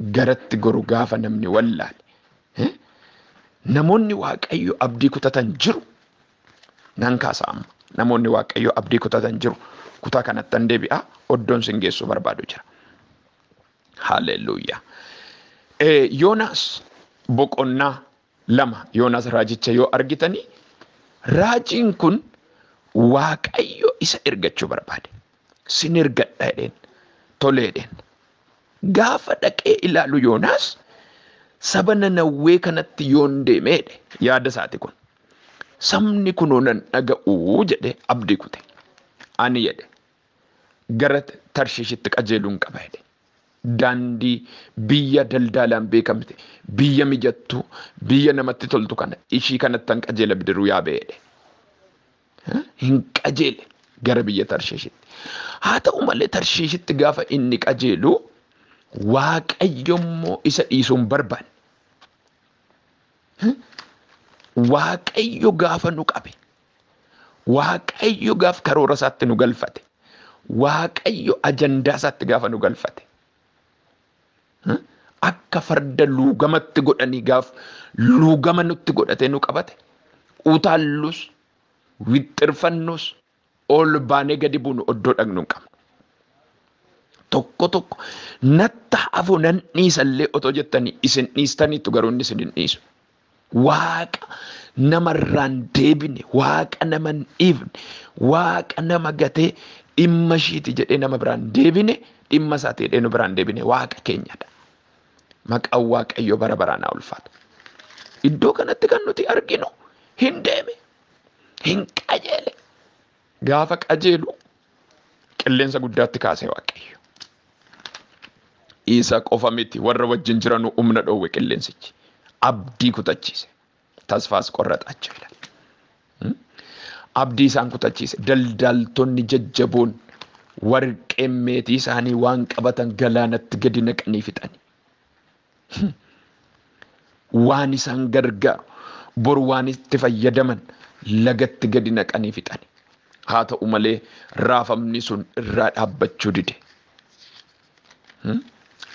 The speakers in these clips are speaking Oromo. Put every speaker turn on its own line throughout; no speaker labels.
garatti goru gaafa namni wallaale. Eh? Namoonni Waaqayyo abdii kutatan jiru. Nan kaasa amma. Namoonni Waaqayyo abdii kutatan jiru. Kutaa kanatti an deebi'a. Oddoon sin geessuu barbaadu jira. Haaleluyyaa. Eh, Yoonaas boqonnaa 2, Yoonaas Raajicha yoo argitani, raajiin kun Waaqayyo isa ergachuu barbaade. Sin ergadha jedheen. Tolee jedheen. Gaafa dhaqee ilaalu Yoonaas saba nanawwee kanatti yoon deeme jedhe. Yaada isaati kun. Sabni kunoo nan dhaga'uu jedhe abdii kute. Ani jedhe gara Tarshiishitti qajeeluun qaba jedhe. Daandii biyya daldaalaan beekamte, biyya mijattuu, biyya namatti toltu kana ishii kanattan qajeela bidiruu yaabee jedhe. Hin qajeele gara biyya Tarshiishitti. Haa ta'u malee Tarshiishitti gaafa inni qajeelu Waaqayyo immoo isa dhiisuu hin barbaanne. Waaqayyo gaafa nu qabe Waaqayyo gaaf karoora isaatti nu galfate. Waaqayyo ajandaa isaatti gaafa nu galfate. Akka farda luugamatti godhanii gaaf luugama nutti godhatee nu qabate. Utaallus, wixxirfannus, ol baanee gadi buunu oddoo dhaqnu hin qabnu. Tokko tokko natta hafu nan dhiisallee otoo jettanii isin dhiistaniitu garuu inni isin hin dhiisu. Waaqa nama irraa hin deebine, Waaqa nama hin dhiifne, Waaqa nama gatee dhimma ishiiti jedhee nama biraa hin deebine, dhimma isaati jedhee nu biraa hin deebine Waaqa keenyadha. Maqaan Waaqayyoo bara baraan haa ulfaatu. Iddoo kanatti kan nuti arginu hin deeme, hin qajeele. Gaafa qajeelu qilleensa guddaatti kaase Waaqayyo. Isa qofa miti warra wajjin jiranu humna dhoowwe qilleensichi. Abdii kutachiise. Tasfaas qorraxaacha ilaal. Abdii isaan kutachiise. Daldaaltonni jajjaboon warqeen meetii isaanii waan qabatan galaanatti gadi naqanii fixani. waan isaan gargaaru bor waan itti fayyadaman lagatti gadi naqanii fixani. Haa ta'u malee raafamni sun irraa dhaabbachuu dide.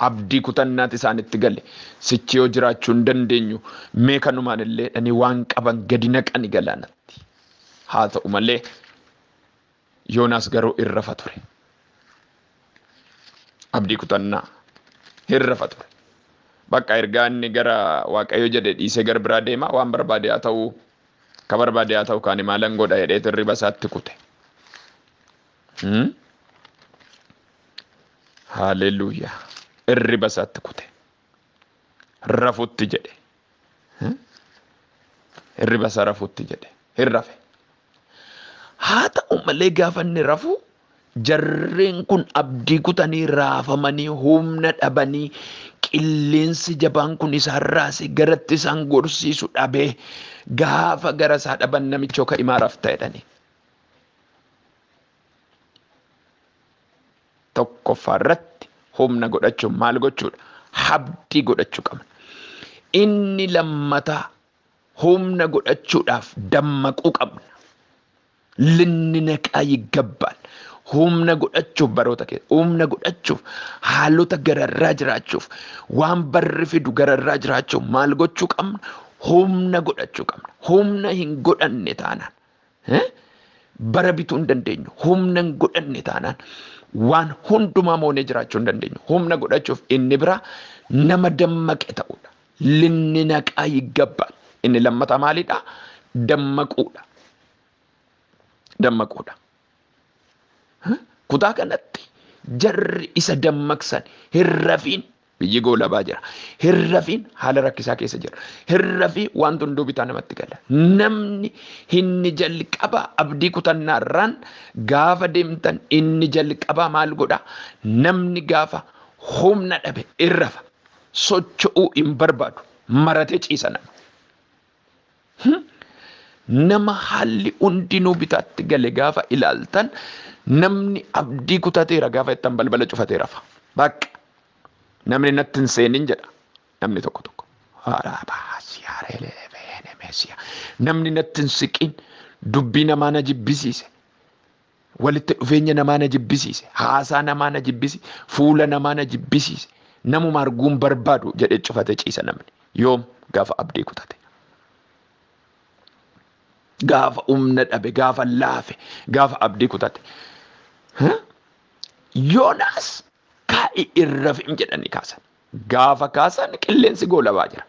Abdii kutannaati isaanitti gale. Sichi yoo jiraachuu hin dandeenyu mee kanumaan illee dhani waan qaban gadi naqani galaanatti. Haa ta'u malee Yoonaas garuu hin rafa ture. Abdii kutannaa hin rafa ture. Bakka ergaa inni gara Waaqayyo jedhe dhiisee gara biraa deema waan barbaade haa ta'u ka barbaade haa ta'u kaani maalan godha jedhee hirriba isaatti kute. Hmm? Haaleluyyaa. Hirriba isaatti kute. Rafutti jedhe. Hmm? Hirriba isaa rafutti jedhe. Hin rafe. Haa ta'u malee gaafa inni rafu jarreen kun abdii kutanii raafamanii humna dhabanii qilleensi jabaan kun isaan raase garatti isaan gorsiisu dhabee gaafa gara isaa dhaban namichoo ka imaa rafta jedhanii. Tokkoffaa irratti humna godhachuun maal gochuudha? Habdii godhachuu qabna. Inni lammataa humna godhachuudhaaf dammaquu qabna. Linninaqaa yiggabbaan humna godhachuuf baroota keessa humna godhachuuf haalota gararraa jiraachuuf waan barri fidu gararraa jiraachuuf maal gochuu qabna? Humna godhachuu qabna. Humna hin godhanne taanaan bara bituu hin dandeenyu. Humna hin godhanne taanaan waan hundumaa moonee jiraachuu hin dandeenyu. Humna godhachuuf inni biraa nama dammaqe ta'uudha. Linni naqaa yiggabba. Inni lammataa maalidha? Dammaquudha. Dammaquudha. Kutaa kanatti jarri isa dammaqsan hin rafiin biyyi goolabaa jira. Hin rafiin haala rakkisaa keessa jira. Hin rafii wanti hunduu bitaa namatti gala. Namni inni jalqabaa abdii kutannaarraan gaafa deemtan inni jalqabaa maal godha? Namni gaafa humna dhabe hin rafa. Socho'uu hin barbaadu. Maratee ciisa nama. Nama haalli hundinuu bitaatti gale gaafa ilaaltan namni abdii kutateera gaafa jettan balbala cufatee rafa. Bakka namni natti hin seenin jedha namni tokko tokko. Namni natti hin siqin dubbii namaa na jibbisiise. Walitti dhufeenya namaa na jibbisiise. Haasaa namaa na jibbisi. Fuula namaa na jibbisiise. Namuma arguun barbaadu jedhee cufate ciisa namni. Yoom gaafa abdii kutate. Gaafa humna dhabe, gaafa laafe, gaafa abdii kutate. Yoonaas kaa'i irra fi'im jedhanii kaasanii. Gaafa kaasan qilleensi goolabaa jira.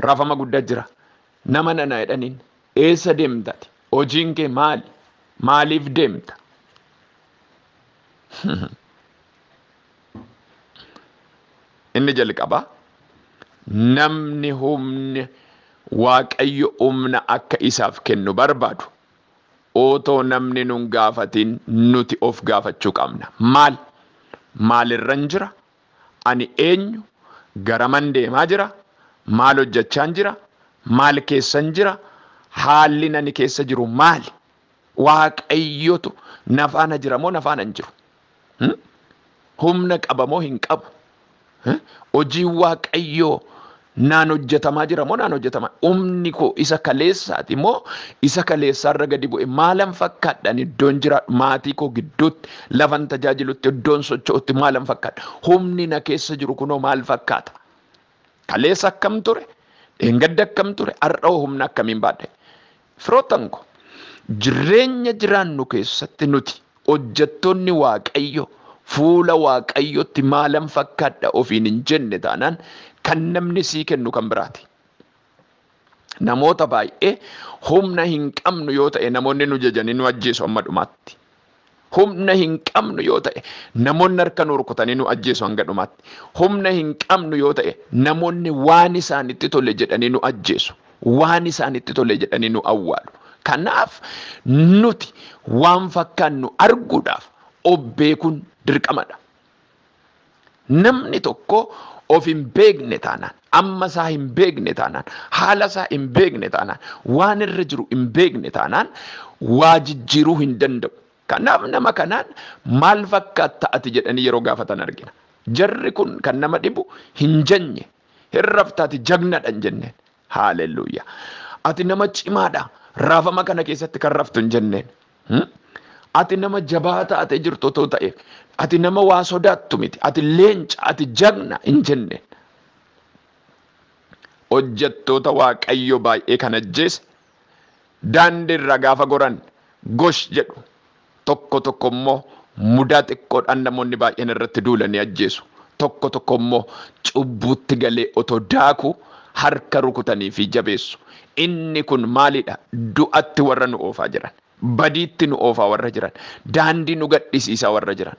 Rafama gudda jira. Nama nana jedhaniin eessa deemta ati? Hojiin kee maali? Maaliif deemta? Inni jalqaba namni humni waaqayyo humna akka isaaf kennu barbaadu otoo namni nun gaafatiin nuti of gaafachuu qabna. Maal? Maalirran jira? Ani eenyu? Garaman deemaa jira? Maal hojjachaan jira? Maal keessan jira? Haallin ani keessa jiru maali? Waaqayyotu na faana jira moo na faana hin jiru? Hmm? Humna qaba moo hin qabu? Eh? Hojiin Waaqayyoo Naan hojjetamaa jira moo naan hojjetama? Humni koo isa kaleessaati moo isa kaleessaarra gadi bu'e? Maalan fakkaadhaan iddoon jiraadhu? Maatii koo gidduutti, lafan tajaajilutti, iddoon socho'utti maalan fakkaadha? Humni na keessa jiru kunoo maal fakkaata? Kaleessa akkam ture? Dheengadda akkam ture? Har'a hoo humna akkamiin baadhe? Firoottan ko, jirreenya jiraannu keessatti nuti hojjettoonni Waaqayyo fuula Waaqayyootti maalan fakkaadha ofiin hin jenne taanaan kan namni sii kennu kan biraati. Namoota baay'ee humna hin qabnu yoo ta'e namoonni nu jajanii nu ajjeesu amma dhumaatti. Humna hin qabnu yoo ta'e namoonni harka nu rukutanii nu ajjeesu hanga dhumaatti. Humna hin qabnu yoo ta'e namoonni waan isaanitti tole jedhanii nu ajjeesu. Waan isaanitti tole jedhanii nu awwaalu. Kanaaf nuti waan fakkaannu arguudhaaf of beekuun dirqamadha. Namni tokko of hin beekne taanaan, amma isaa hin beekne taanaan, haala isaa hin beekne taanaan, waan irra jiru hin beekne taanaan waa jijjiiruu hin danda'u. Kanaaf nama kanaan maal fakkaatta ati jedhanii yeroo gaafatan argina. Jarri kun kan nama dhibu hin janye, hin raftaati jagnadha hin jenneen. Haalelluuya. Ati nama cimaadha. Raafama kana keessatti kan raftu hin jenneen. Hmm? Ati nama jabaa taatee jirtu otoo ta'e, ati nama waa sodaattu miti, ati leenca, ati jagna hin jenneen. Hojjettoota Waaqayyo baay'ee kan ajjeese Daandii irra gaafa goran gosh jedhu. Tokko tokko immoo mudaa xiqqoodhaan namoonni baay'een irratti duulanii ajjeesu. Tokko tokko immoo cubbuutti galee otoo daaku harka rukutanii fi jabeessu. Inni kun maalidha? Du'atti warra nu oofaa jiran, badiitti nu oofaa warra jiran, daandii nu gadhisiisaa warra jiran.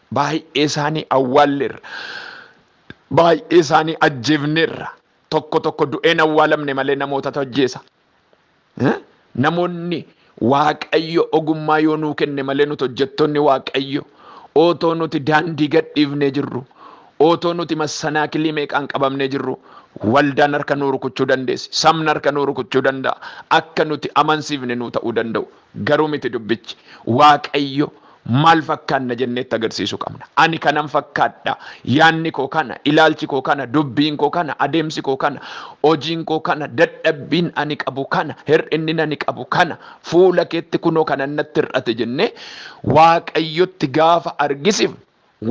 Baay'ee isaanii awwaalleerra. Baay'ee isaanii ajjeefneerra. Tokko tokko du'een awwaalamne malee namootatu ajjeesa. Eh? Namoonni Waaqayyo ogummaa yoo nuu kenne malee nuti hojjettoonni Waaqayyo otoo nuti daandii gadhiifnee jirru, otoo nuti massanaakilii meeqaan qabamnee jirru, waldaan harka nuu rukuchuu dandeessi. Sabni harka nuu rukuchuu danda'a. Akka nuti amansiifne nuu ta'uu danda'u. Garuu miti dubbichi. Waaqayyo maal fakkaanna jenneetti agarsiisu qabna. Ani kanan fakkaadha, yaanni koo kana, ilaalchi koo kana, dubbiin koo kana, adeemsi koo kana, hojiin koo kana, dadhabbiin ani qabu kana, hir'innin ani qabu kana, fuula keetti kunoo kanan natti hir'ate jennee waaqayyotti gaafa argisifnu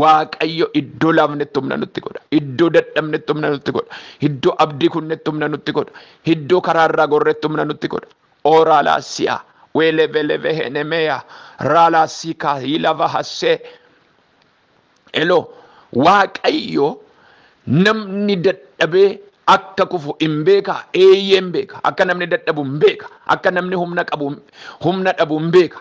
Waaqayyo iddoo laafnetti humna nutti godha. Iddoo dadhabnetti humna nutti godha. Iddoo abdii kunnetti humna nutti godha. Iddoo karaa irraa gorretti humna nutti godha. Oraalaa si'a weeleveleve henemeya raalaa siikaa hiilava hassee elo waaqayyo namni dadhabee akka kufu hin beeka eeyyeen beeka akka namni dadhabu hin beeka akka namni humna qabu humna dhabu hin beeka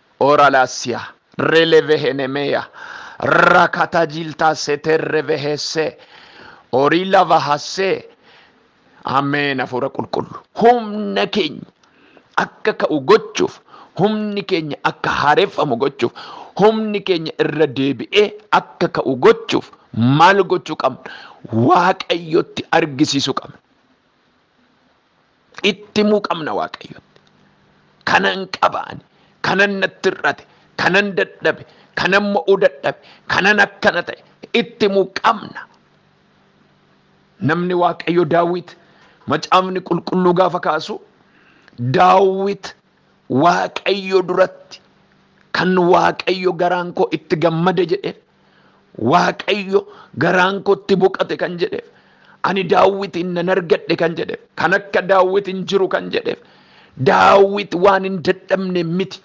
Oralasia, relevehenemeya, rakatajilta seterrevehesse, orila vahasse. Ameen hafuura qulqullu. Humna keenya akka ka'u gochuuf, humni keenya akka haareffamu gochuuf, humni keenya irra deebi'ee akka ka'u gochuuf maal gochuu qabna? Waaqayyotti argisiisuu qabna. itti himuu qabna waaqayyotti kanan qabaani kanan natti hir'ate kanan dadhabe kanan mo'uu dadhabe kanan akkana ta'e itti himuu qabna namni waaqayyo daawwit macaafni qulqulluu gaafa kaasu daawwit waaqayyo duratti kan waaqayyo garaan koo itti gammade jedhe Waaqayyo garaan kootti boqate kan jedheef ani daawwitiin nan argadhe kan jedheef kan akka daawwit hin jiru kan jedheef daawwit waan hin dadhabne miti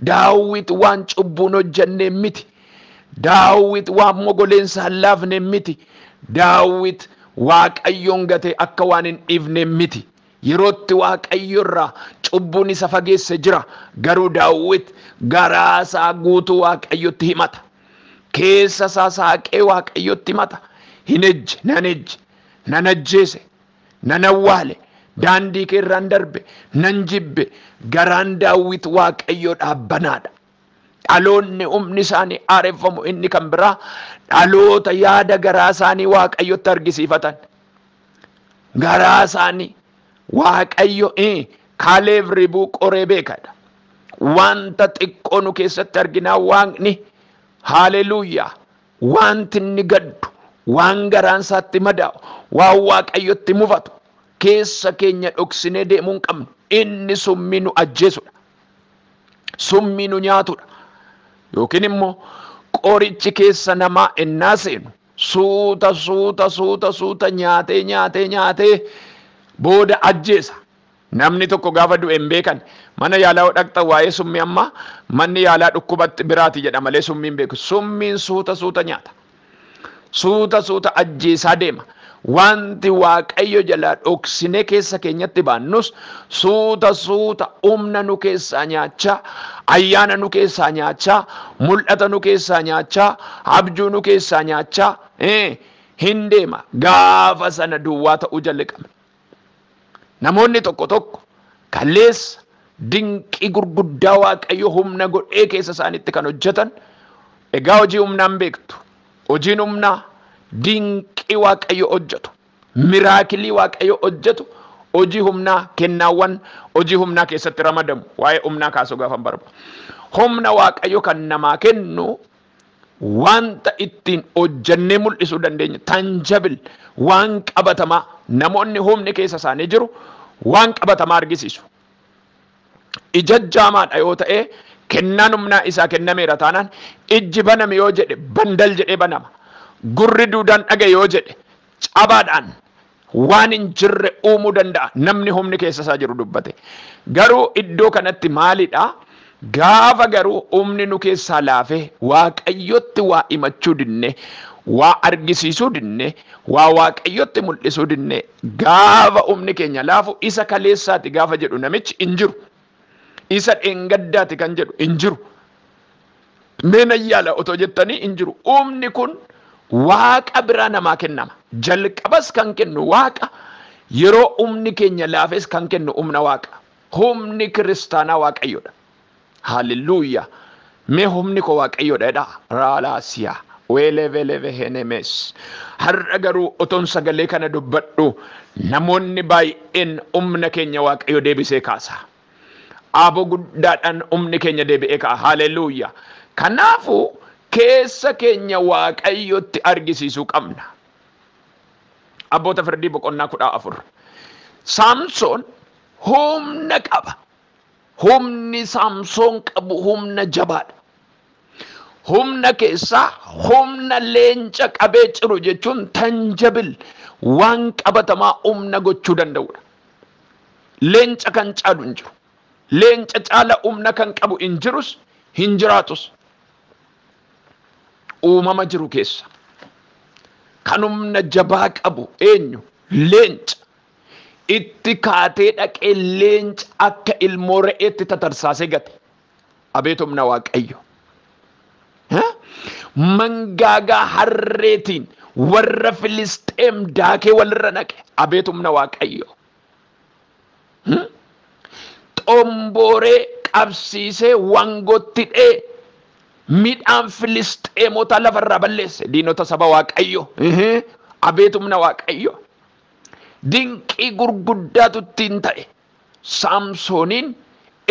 daawwit waan cubbuun hojjenne miti daawwit waan mogoleensa hin laafne miti daawwit waaqayyoon gatee akka waan hin dhiifne miti Yeroo itti Waaqayyo irraa cubbuun isa fageesse jira, garuu Daawit garaa isaa guutuu Waaqayyotti himata. Keessa isaa saaqee Waaqayyotti himata. Hin ejje, nan ejje, nan ajjeese, nan awwaale, daandii kee irraan darbe, nan jibbe. Garaan Daawit Waaqayyoodhaaf banaadha. Dhaloonni humni isaanii haareffamu inni kan biraa dhaloota yaada garaa isaanii Waaqayyotti argisiifatan. garaa isaanii waaqayyo eh, kaaleef ribuu qoree beekadha wanta xiqqoo nu keessatti arginaa waaqni haaleluuyaa wanti inni gaddu waan garaan isaatti madaa'u waan waaqayyotti mufatu keessa keenya dhoksinee deemuu hin qabnu inni summii nu ajjeesudha summii nu nyaatudha yookiin immoo qorichi keessa namaa ennaa seenu Suuta suuta suuta suuta nyaatee nyaatee nyaatee booda ajjeesa. Namni tokko gaafa du'e hin beekan. Mana yaalaa yoo dhaqxan waa'ee summii amma manni yaalaa dhukkuba biraati jedha malee summii hin beeku. Summiin suuta suuta nyaata. Suuta suuta ajjeesaa deema. Wanti Waaqayyo jalaa dhoksinee keessa keenyatti baannus Suuta suuta humna nu keessaa nyaachaa, ayyaana nu keessaa nyaachaa, mul'ata nu keessaa nyaachaa, abjuu nu keessaa nyaachaa eh, hin deema. Gaafa sana duwwaa ta'uu jalqabna. Namoonni tokko tokko kaleessa dinqii gurguddaa Waaqayyo humna godhee keessa isaaniitti kan hojjetan egaa hojii humnaan beektu. Hojiin humnaa dinqii Waaqayyo hojjetu Miraakilii Waaqayyo hojjetu hojii humnaa, kennaawwan hojii humnaa keessatti ramadamu. Waa'ee humnaa kaasuu gaafan barba. Humna Waaqayyo kan namaa kennu wanta ittiin hojjennee mul'isuu dandeenyu tangible waan qabatamaa namoonni humni keessa isaanii jiru waan qabatamaa argisiisu. ijajjaamaa dha yoo ta'ee kennaan humnaa isaa kennameera taanaan ijji baname yoo jedhe bandal jedhee banama gurri duudaan dhaga'e yoo jedhe cabaadhaan waan hin jirre uumuu danda'a namni humni keessa isaa jiru dubbate garuu iddoo kanatti maalidha gaafa garuu humni nu keessaa laafee waaqayyotti waa himachuu dinne waa argisiisuu dinne waa waaqayyotti mul'isuu dinne Gaafa umni keenya laafu isa kaleessaati gaafa jedhu namichi hin jiru. Isa dheengaddaati kan jedhu hin jiru. Mee nan yaala otoo jettanii hin jiru. Umni kun waaqa biraa namaa kennama. Jalqabas kan kennu waaqa, yeroo umni keenya laafes kan kennu umna waaqa. Humni kiristaanaa waaqayyodha. Hallelujah Mee humni koo waaqayyoodha jedhaa. Raalaasiyaa weeleveleve henemes har'a garuu otoon sagalee kana dubbadhu namoonni baay'een humna keenya waaqayyo deebisee kaasa. Aaboo guddaadhaan humni keenya deebi'ee ka'a. Haleluuya. Kanaafu keessa keenya waaqayyotti argisiisuu qabna. Abboota firdii boqonnaa kudha afur. Saamsoon humna qaba. Humni Saamsoon qabu humna jabaadha. Humna keessaa humna leenca qabee ciru jechuun tanjabil waan qabatamaa humna gochuu danda'udha. Leenca kan caalu hin jiru. Leenca caala humna kan qabu hin jirus hin jiraatus. Uumama jiru keessa kan humna jabaa qabu eenyu? Leenca. Itti kaatee dhaqee leenca akka ilmoo re'eetti tatarsaasee gate. Abeet humna Waaqayyo! Mangaagaa harreetiin warra Filisxeem daakee walirra naqe. Abeet humna Waaqayyo! Xombooree qabsiisee wangootti dhee midhaan Filisxeemotaa lafarraa balleesse diinota saba Waaqayyo. Abeet humna Waaqayyo! Dinqii gurguddaatu ittiin ta'e. Saamsooniin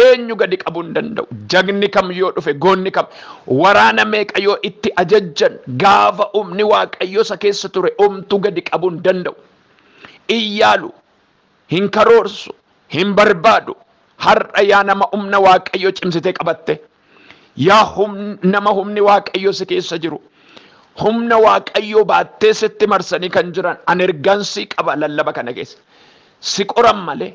eenyu gadi qabuu hin danda'u. Jagni kam yoo dhufe, goonni kam, waraana meeqa yoo itti ajajjan, gaafa humni Waaqayyoo isa keessa ture homtuu gadi qabuu hin danda'u. Hin yaalu, hin karoorsu, hin barbaadu. Har'a yaa nama humna Waaqayyoo cimsitee qabatte, Yaa nama humni waaqayyo si keessa jiru humna waaqayyoo baattee sitti marsanii kan jiran an ergaan si qaba lallaba kana keessa si qoran malee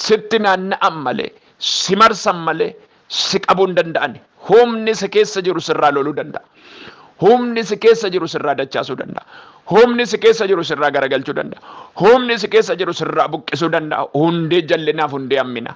sitti naanna'an malee si marsan malee si qabuu hin danda'an humni si keessa jiru sirraa loluu danda'a. Humni si keessa jiru sirraa dachaasuu danda'a. Humni si keessa jiru sirraa garagalchuu danda'a. Humni si keessa jiru sirraa buqqisuu danda'a. Hundee jallinaaf hundee hammina.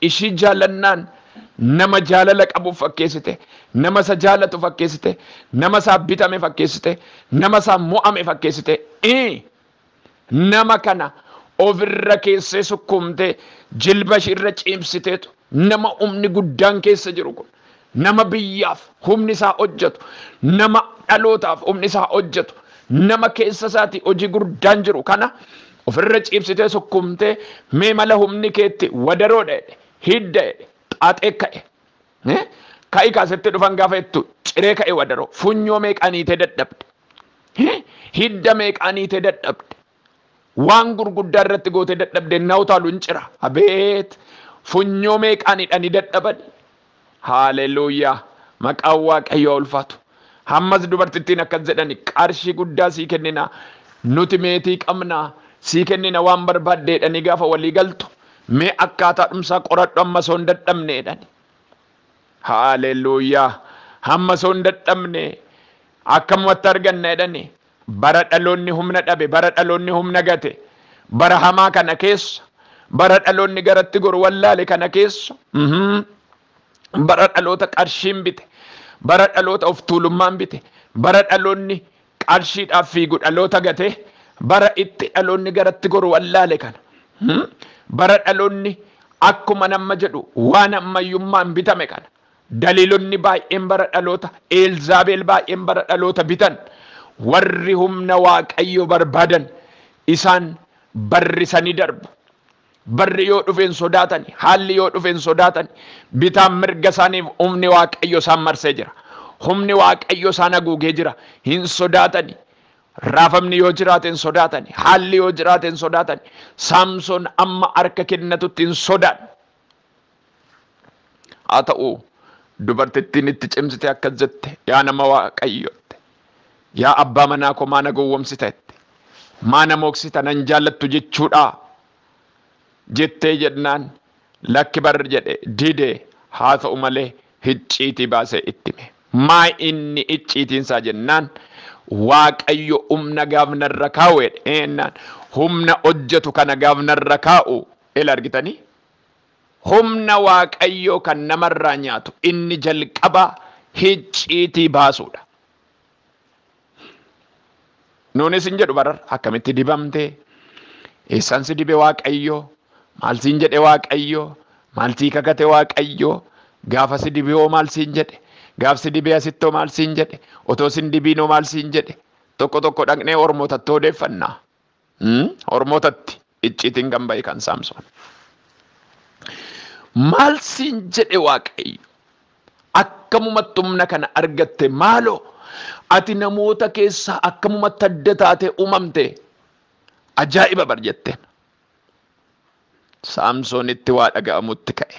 Ishii jaalannaan nama jaalala qabu fakkeessite, nama isa jaalatu fakkeessite, nama isaaf bitame fakkeessite, nama isaaf mo'ame fakkeessite. Ii Nama kana of irra keessee sukkuumtee jilba ishii irra ciibsiteetu nama humni guddaan keessa jiru kun Nama biyyaaf humni isaa hojjetu, nama dhalootaaf humni isaa hojjetu, nama keessa isaatii hojii gurdaan jiru kana ofirra ciibsitee sukkuumtee mee mala humni keetti wadaroodha jedhe, hidda jedhe, xaaxee ka'e. Eh? Ka'i kaa sitti dhufan gaafa jettu ciree ka'e wadaroo. Funyoo meeqaan hiitee dadhabde. Eh? Hidda meeqaan hiitee dadhabde. Waan gurguddaa irratti gootee dadhabde ennaa utaalu in cira. Abeet! Funyoo meeqaan hidhanii dadhabani. Haaleluyyaa! Maqaan Waaqayyoo haa ulfaatu. Hammas dubartittiin akkas jedhani, Qarshii guddaa sii kennina, nuti meetii qabna, sii kennina waan barbaadde jedhanii gaafa walii galtu, mee akkaataadhumsaa qoradhu hamma osoo hin dadhabne jedhani. Haaleluyyaa! Hamma osoo hin dadhabne akkamumatti arganna jedhani. Bara dhaloonni humna dhabe, bara dhaloonni humna gate, bara hamaa kana keessa, bara dhaloonni garatti goru wallaale kana keessa, bara dhaloota qarshiin bite, bara dhaloota of tuulummaan bite, bara dhaloonni qarshiidhaaf fiigu dhaloota gate, bara itti dhaloonni garatti goru wallaale kana, bara dhaloonni akkuma namma jedhu waan ammayyummaan bitame kana, Galiilonni baay'een bara dhaloota Eelzaabeel baay'een bara dhaloota bitan warri humna Waaqayyoo barbaadan isaan barrisanii darbu. Barri yoo dhufe hin sodaatani, haalli yoo dhufe hin sodaatani. Bitaan mirga isaaniif humni Waaqayyo isaan marsee jira. Humni Waaqayyo isaan haguugee jira. Hin sodaatani. Raafamni yoo jiraate hin sodaatani. Haalli yoo jiraate hin sodaatani. Saamsoon amma harka kennatutti hin sodaanne. Haa ta'u, dubartittiin itti cimsitee akkas jette, Yaa nama Waaqayyootti, yaa abbaa manaa koo maa na gowwomsiteetti? Maa na mooksita nan jaallattu jechuudhaa? jettee jennaan lakki bar jedhe dide haa ta'u malee hicciitii baasee itti hime. Maa inni icciitiin isaa jennaan Waaqayyo humna gaaf narra kaa'u jedhe. Eennaan humna hojjetu kana gaaf narra kaa'u ila argitanii? Humna Waaqayyoo kan namarraa nyaatu inni jalqabaa hicciitii baasuudha. Nuunis hin jedhu barar akkamitti dibamte, eessan si dibe Waaqayyoo, maal siin jedhe Waaqayyoo, maal sii kakate Waaqayyoo, gaafa si dibe hoo maal siin jedhe, gaaf si dibee asitti hoo maal siin jedhe, otoo sin dibiin hoo maal siin jedhe, tokko tokko dhaqnee ormootattu odeeffanna. Ormootatti icciitiin kan ba'e kan Saamsoon. Maal siin jedhe Waaqayyo? Akkamumatti humna kana argatte maaloo ati namoota keessaa akkamumatti adda taatee uumamte ajaa'iba bar jetteen. Saamsoonitti waa dhaga'amutti ka'e.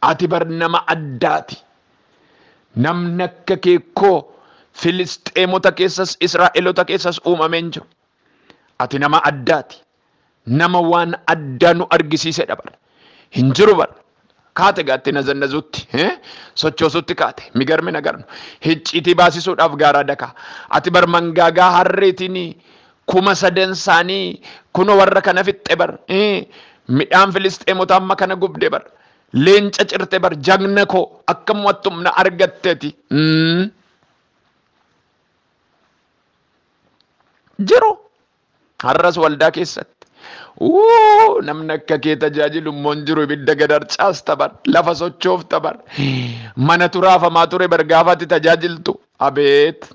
Ati bar nama addaati. Namni akka kee koo Filisxeemota keessas Israa'elota keessas uumamee hin jiru. Ati nama addaati. Nama waan addaa nu argisiisedha bar. Hin jiru bar. kaate gaatti nazannazuutti eh, sochoosuutti kaate migarmi nagarnu hicciitii baasisuudhaaf gaaraa dakaa ati bar mangaagaa harreetiin kuma sadan isaanii kuno warra kana fixxe bar eh, midhaan filisxeemota amma kana gubde bar leenca cirte bar jagna koo akka mo'attumna argatteti mm. jiru Har'as waldaa keessatti Wuu! Namni akka kee tajaajilu immoo hin jiru. Ibidda gad harcaasta bar. Lafa sochoofta bar. Mana turaafamaa ture bar gaafa ati tajaajiltu. Abeet!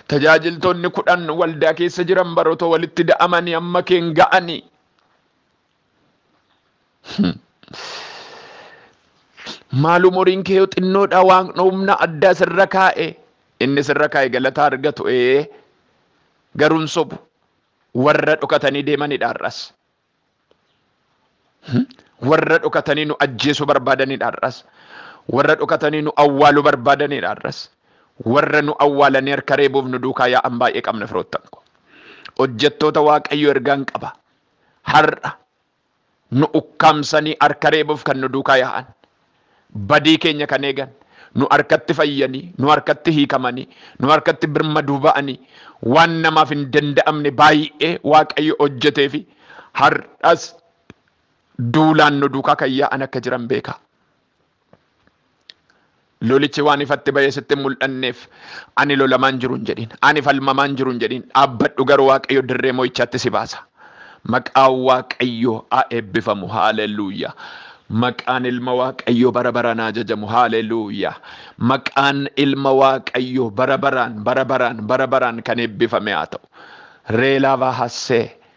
Tajaajiltoonni kudhan waldaa keessa jiran bar otoo walitti da'amanii amma keen ga'anii. Maal umuriin kee yoo xinnoodha waaqni humna addaa sirra kaa'e inni sirra kaa'e galataa argatu ee garuun sobu warra dhokatanii deemanidha har'as. Warra dhokatanii nu ajjeesuu barbaadanidha har'as. Warra dhokatanii nu awwaaluu barbaadanidha har'as. Warra nu awwaalanii harka reebuuf nu duukaa yaa'an baay'ee qabna firoottan koo. Hojjettoota Waaqayyoo ergaan qaba. har'a nu ukkaamsanii harka reebuuf kan nu duukaa yaa'an, badii keenya kan eegan, nu harkatti fayyanii, nu harkatti hiikamanii, nu harkatti birmaduu ba'anii waan namaaf hin danda'amne baay'ee Waaqayyo hojjetee fi har'as duulaan nu duukaa kan yaa'an akka jiran beekaa. Lolichi waan ifatti ba'ee sitti hin mul'anneef ani lolamaan jiru hin jedhin. Ani falmamaan jiru hin jedhin. Dhaabbadhu garuu Waaqayyo dirree mo'ichaatti si baasa. Maqaan Waaqayyoo haa eebbifamu. Haaleluuyaa. Maqaan ilma Waaqayyoo bara baraan haa jajamu. Haaleluuyaa. Maqaan ilma Waaqayyoo bara baraan bara baraan bara baraan kan eebbifame haa ta'u. Reelaa Vaahassee.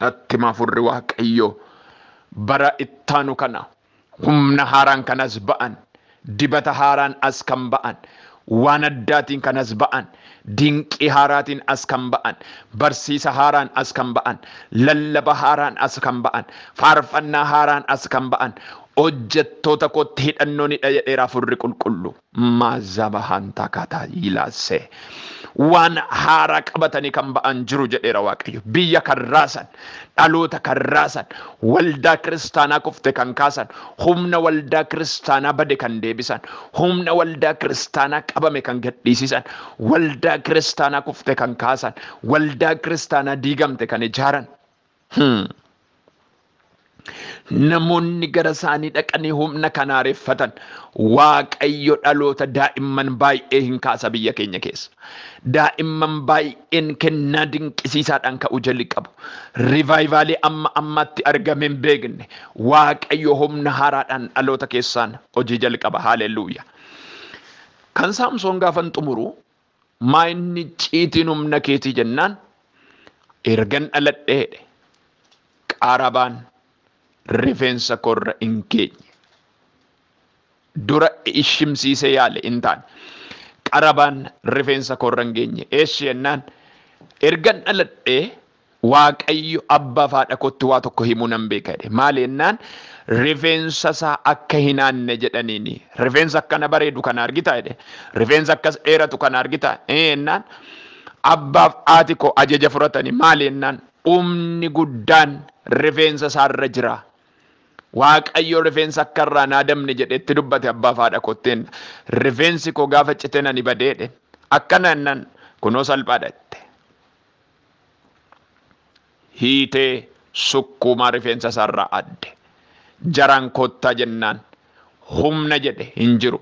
Natti hima furri Waaqayyoo bara ittaanu kana humna haaraan kan as ba'an, dibata haaraan as kan ba'an, waan addaatiin kan as ba'an, dinqii haaraatiin as kan ba'an, barsiisa haaraan as kan ba'an, lallaba haaraan as kan ba'an, faarfannaa haaraan as kan ba'an hojjettoota kootti hidhannoonidha jedheera furri qulqulluu. Maazabahaan takaataa yilaase. Waan haaraa qabatanii kan ba'an jiru jedheera Waaqayyo. Biyya kan raasan, dhaloota kan raasan, waldaa kiristaanaa kufte kan kaasan, humna waldaa kiristaanaa bade kan deebisan, humna waldaa kiristaanaa qabame kan gadhiisisan, waldaa kiristaanaa kufte kan kaasan, waldaa kiristaanaa diigamte kan ijaaran. Hmm. Namoonni gara isaanii dhaqanii humna kan haareffatan waaqayyo dhaloota daa'imman baay'ee hin kaasa biyya keenya keessa. Daa'imman baay'een kennaa dinqisiisaadhaan ka'uu jalqabu. Rivaayivaalii amma ammaatti argame hin beekne waaqayyo humna haaraadhaan dhaloota keessaan hojii jalqaba. Haaleluyyaa. Kan Saamsoon gaafan xumuru Maa inni icciitiin humna keetii jennaan ergan dhaladhe jedhe qarabaan rifeensa koorra hin geenye. Dura ishimsiisee yaale hin taane. Qarabaan rifeensa koorra hin geenye. Eessi jennaan ergan dhaladhe Waaqayyo abbaa fi haadha kootti waa tokko himuu nan beeka jedhe. Maali jennaan rifeensa isaa akka hin haanne jedhaniini. Rifeensa akkana bareedu kana argitaa jedhe. Rifeensa akkas dheeratu kana argitaa? Ee jennaan abbaaf haati koo ajaja fudhatani. Maali jennaan humni guddaan rifeensa isaa irra jira. Waaqayyo rifeensa akka irraa hin haadamne jedhe itti dubbate abbaa fi haadha kootti jenna. Rifeensi koo gaafa cite nani badee jedhe. Akkana jennaan kunoo salphaadha jette. hiitee sukkuumaa rifeensa isaarraa adde. Jaraan kottaa jennaan humna jedhe hin jiru.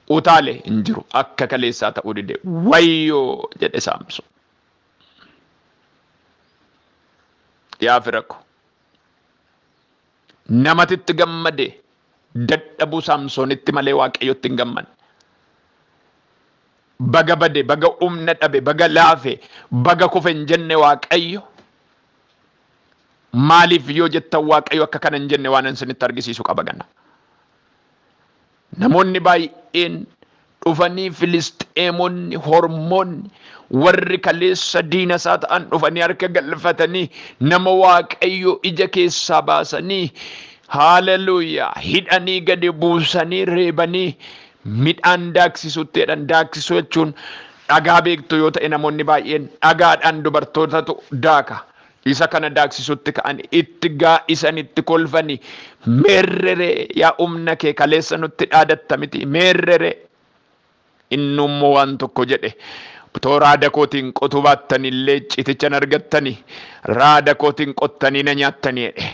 Utaale hin jiru. Akka kaleessaa ta'uu dide. Wayyoo! jedhe Saamsoon. Yaa fira ko! Namatitti gammade dadhabuu saamsoonitti malee waaqayyotti hin gammanne. Baga bade, baga humna dhabe, baga laafe, baga kufe hin jenne waaqayyo. Maaliif yoo jettan waaqayyo akka kana hin jenne waanan isinitti argisiisu qaba gana. Namoonni baay'een dhufanii Filisxeemonni, hormoonni, warri kaleessa diina isaa ta'an dhufanii harka galfatanii nama Waaqayyoo ija keessaa baasanii, haaleluyyaa, hidhanii gadi buusanii reebanii midhaan daaksisuutti jedhan. Daaksisuu jechuun dhagaa beektu yoo ta'e namoonni baay'een dhagaadhaan dubartootatu daaka. Isa kana daaksisutti ka'ani itti gaa'isani itti kolfani meerreree yaa umna kee kaleessa nutti dhaadatta miti meerreree inni immoo waan tokko jedhe otoo raada kootiin qotuu baattani illee icciitichan argattani raada kootiin qottanii na nyaattani jedhe.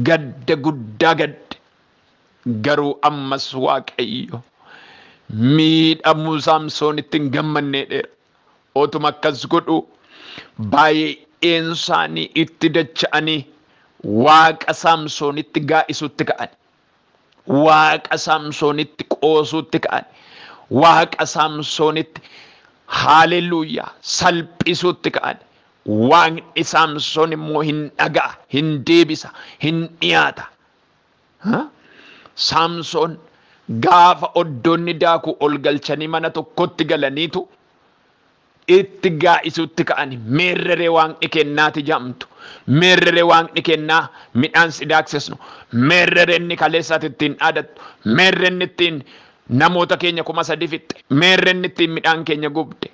Gadda guddaa gadde Garuu ammas Waaqayyo miidhamuu Saamsoonitti hin gammanneedheera. Otuma akkas godhu baay'een isaanii itti dacha'anii Waaqa Saamsoonitti gaa'isuutti ka'ani. Waaqa Saamsoonitti qoosuutti ka'ani. Waaqa Saamsoonitti haaleluyyaa salphisuutti ka'ani. Waaqni Saamsoon immoo hin dhaga'a, hin deebisa, hin dhiyaata. Saamsoon gaafa oddoonni daakuu ol galchanii mana tokkotti galaniitu itti gaa'isuutti ka'ani meerreree waaqni kennaati jaamtu meerreree waaqni kennaa midhaan si daaksisnu meerrereenni kaleessaati ittiin dhaadattu meerreenni ittiin namoota keenya kuma sadi fixxe meerreenni ittiin midhaan keenya gubde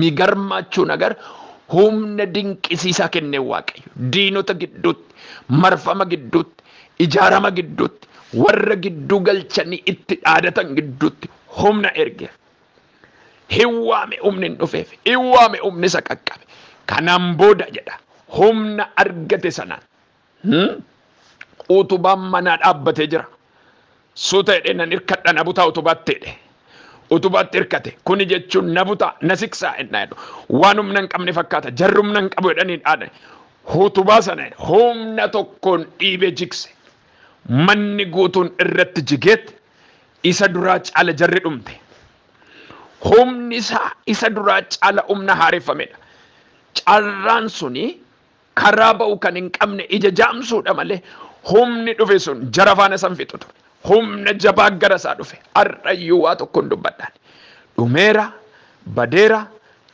Migarmaachuu nagar humna dinqisiisaa kennee Waaqayyo diinota gidduutti, marfama gidduutti, ijaarama gidduutti, warra gidduu galchanii itti dhaadatan gidduutti humna ergeef. Hin waame humni hin dhufeef, hin waame humni isa qaqqabe. Kanaan booda jedha humna argate sanaan Utubaan manaa dhaabbatee jira. Suuta jedhee nan hirkadha na butaa utubaatti jedhe. Utubaatti hirkate. Kuni jechuun na butaa na siksaa ennaa jedhu. Waan humna hin qabne fakkaata. Jarri humna hin qabu jedhanii dhaadhe. Utubaa sana humna tokkoon dhiibee jigse. Manni guutuun irratti jigeet isa duraa caala jarri dhumte. Humni isaa isa duraa caala humna haareffamedha. Carraan suni Karaa ba'u kan hin qabne ija jaamsuudha malee humni dhufe sun jara faana san fixu ture. Humna jabaa gara isaa dhufe. Har'ayyuu waa tokkoon dubbadhaan. Dhumeera, badeera,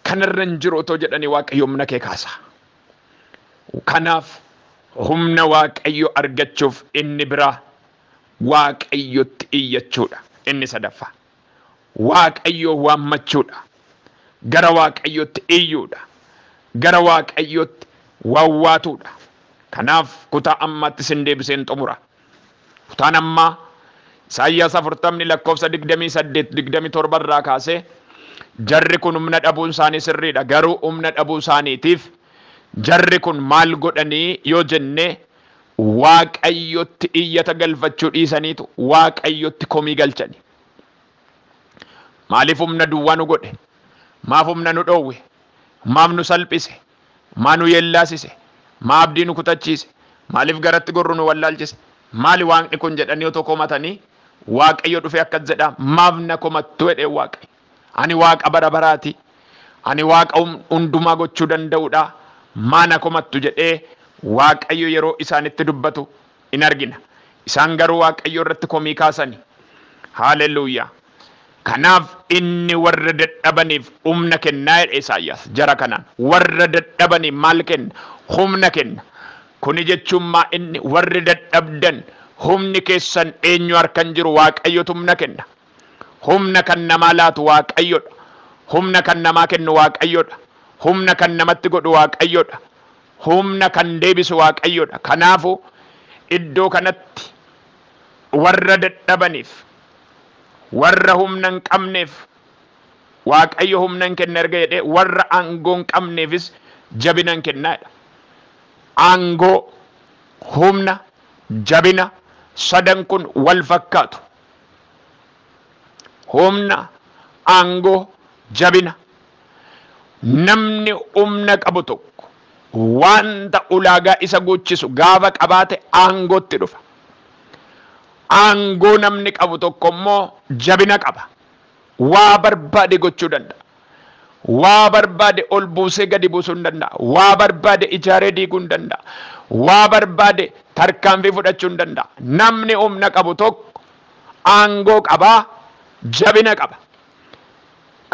kanarra hin jiru otoo jedhanii Waaqayyo humna kee kaasa. Kanaaf humna Waaqayyo argachuuf inni biraa Waaqayyotti iyyachuudha. Inni sadaffaa. Waaqayyoo waammachuudha. Gara Waaqayyootti iyyuudha. Gara Waaqayyootti wawwaatuudha. Kanaaf kutaa ammaatti sin deebiseen xumura. Kutaan ammaa Isaayyaas 40 lakkoofsa 28, 27 irraa kaasee jarri kun humna dhabuun isaanii sirriidha. Garuu humna dhabuu isaaniitiif jarri kun maal godhanii yoo jennee Waaqayyotti iyyata galfachuu dhiisaniitu Waaqayyotti komii galchani. Maaliif humna duwwaa nu godhe? Maaf humna nu dhoowwe? Maaf nu salphise? Maa nu yeellaasise? Maa abdii nu kutachiise? Maaliif garatti gorru nu wallaalchise? Maali Waaqni kun jedhanii otoo komatanii Waaqayyo dhufee akkas jedhaa maaf na komattu jedheen Waaqayyo. Ani Waaqa bara baraa ti, ani Waaqa hundumaa gochuu danda'u dha, maa na komattu? jedhee Waaqayyo yeroo isaanitti dubbatu in argina. Isaan garuu Waaqayyo irratti komii kaasani. Haaleluyyaa! Kanaaf inni warra dadhabaniif humna kennaa jedhe Isaayyaas jara kanaan. Warra dadhabaniif maal kenna? Humna kenna. Kuni jechuun maa inni warri dadhabdan humni keessan eenyu harkan jiru Waaqayyotu humna kenna. Humna kan namaa laatu Waaqayyo dha. Humna kan namaa kennu Waaqayyo dha. Humna kan namatti godhu Waaqayyo dha. Humna kan deebisu Waaqayyo dha. Kanaafuu, iddoo kanatti warra dadhabaniif, warra humna hin qabneef Waaqayyo humnan kenna erga jedhee warra aangoo hin qabneefis jabinan kenna jedha. Aangoo, humna, jabina sadan kun wal fakkaatu. Humna, aangoo, jabina. Namni humna qabu tokko wanta ulaagaa isa guuchisu gaafa qabaate aangootti dhufa. Aangoo namni qabu tokko immoo jabina qaba. Waa barbaade gochuu danda'a. Waa barbaade ol buusee gadi buusuu hin danda'a. Waa barbaade ijaaree diiguu hin danda'a. Waa barbaade tarkaanfii fudhachuu hin danda'a. Namni humna qabu tokko aangoo qaba, jabina qaba.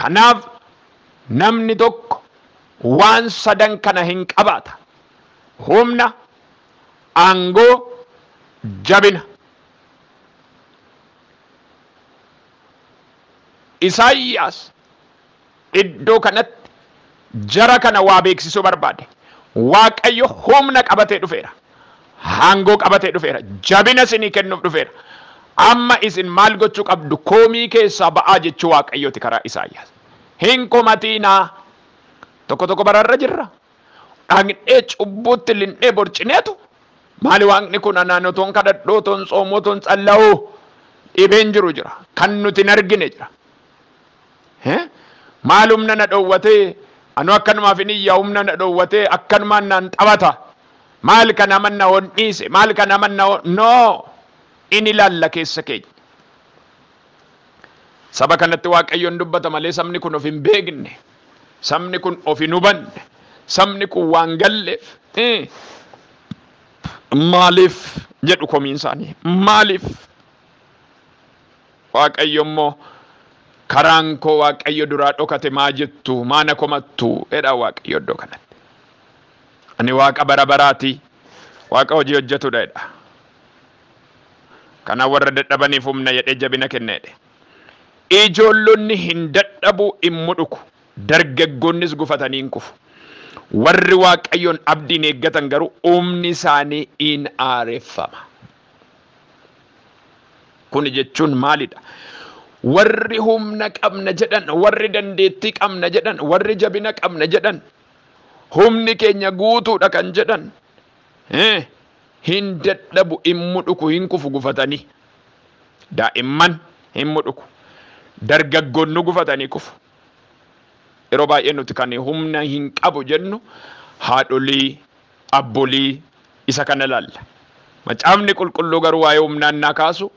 Kanaaf namni tokko waan sadan kana hin qabaata. Humna, aangoo, jabina. Isaayyaas iddoo kanatti jara kana waa beeksisuu barbaade. Waaqayyo humna qabatee dhufeera. Aangoo qabatee dhufeera. Jabina isinii kennuuf dhufeera. Amma isin maal gochuu qabdu? Komii keessaa ba'aa jechuu Waaqayyooti karaa Isaayyaas. Hin komatiinaa. Tokko tokko bararra jirra. Dhaqnee cubbuutti linnee borcineetu maali waaqni kun anaan otoon kadhadhuu otoon tsoomuu otoon tsalla'uu dhibeen jiru jira kan nuti hin argine jira maal humna na dhoowwatee anu akkanumaaf hin iyya humna na dhoowwatee akkanumaan naan taphata maal kan amanna hon dhiise maal kan amanna noo in ilaalla keessa keenya Saba kanatti Waaqayyoon dubbata malee sabni kun of hin beekne. Sabni kun of hin hubanne. Sabni kun waan galleef maaliif jedhu komiin isaanii. Maaliif? Waaqayyo immoo karaan koo Waaqayyo duraa dhokate maa jettu maana komattu jedha Waaqayyo iddoo kanatti. Ani Waaqa bara baraati. Waaqa hojii hojjetudha jedha. Kana warra dadhabaniif humna jedhee jabina kenneedhe. Ijoollonni hin dadhabu, hin mudhuku, dargaggoonnis gufatanii hin kufu. Warri Waaqayyoon abdiin eeggatan garuu humni isaanii in haareffama. Kuni jechuun maalidha? Warri humna qabna jedhan, warri dandeettii qabna jedhan, warri jabina qabna jedhan, humni keenya guutuudha kan jedhan, Hii hin dadhabu hin mudhuku hin kufu gufatanii daa'imman hin mudhuku dargaggoonnu gufatanii kufu yeroo baay'ee nuti kan humna hin qabu jennu haadholii abbolii isa kana laalla macaafni qulqulluu garuu waa'ee humnaa innaa kaasu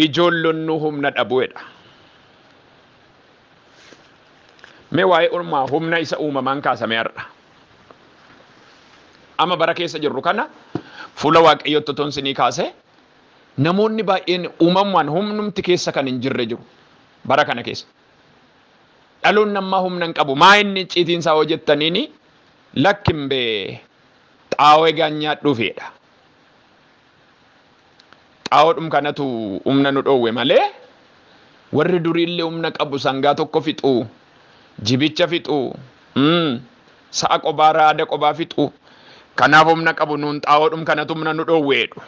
ijoollonnu humna dhabuedha mee waa'ee ulmaa humna isa uumamaan kaasame har'a Amma bara keessa jirru kana fuula waaqayyootti otoon sinii kaase namoonni baay'een uumamumaan humnumti keessa kan hin jirre jiru bara kana keessa. Dhaloon nammaa humna hin qabu maa inni icciitiin isaa hojjettaniini lakkin bee xaawoo egaan nyaadhuufidha. Xaa'oodhum kanatu umna nu dhoowwe malee warri duriille umna qabu sangaa tokko fixu, jibicha fixu, sa'a qobaa raada qobaa fixu kanaaf umna qabu nuun xaa'oodhum kanatu umna nu dhoowwe jedhu.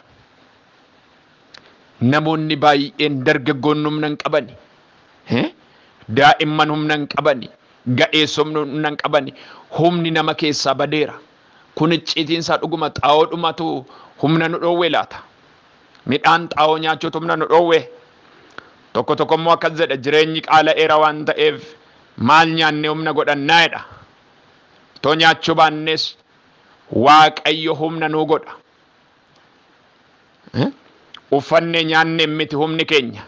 Namoonni baay'een dargaggoonni umna hin qabani, daa'imman umna hin qabani, ga'eessomni umna hin qabani, humni nama keessaa badeera. Kun icciitiin isaa dhuguma xaa'oodhumatu humna nu dhoowwe laata? Midhaan xaa'oo nyaachuutu humna nu dhoowwe? Tokko tokko immoo akkas jedha jireenyi qaala'eera waan ta'eef maal nyaannee humna godhannaa jedha. Otoo nyaachuu baannees Waaqayyo humna nuu godha. Uffannee nyaanneen miti humni keenya.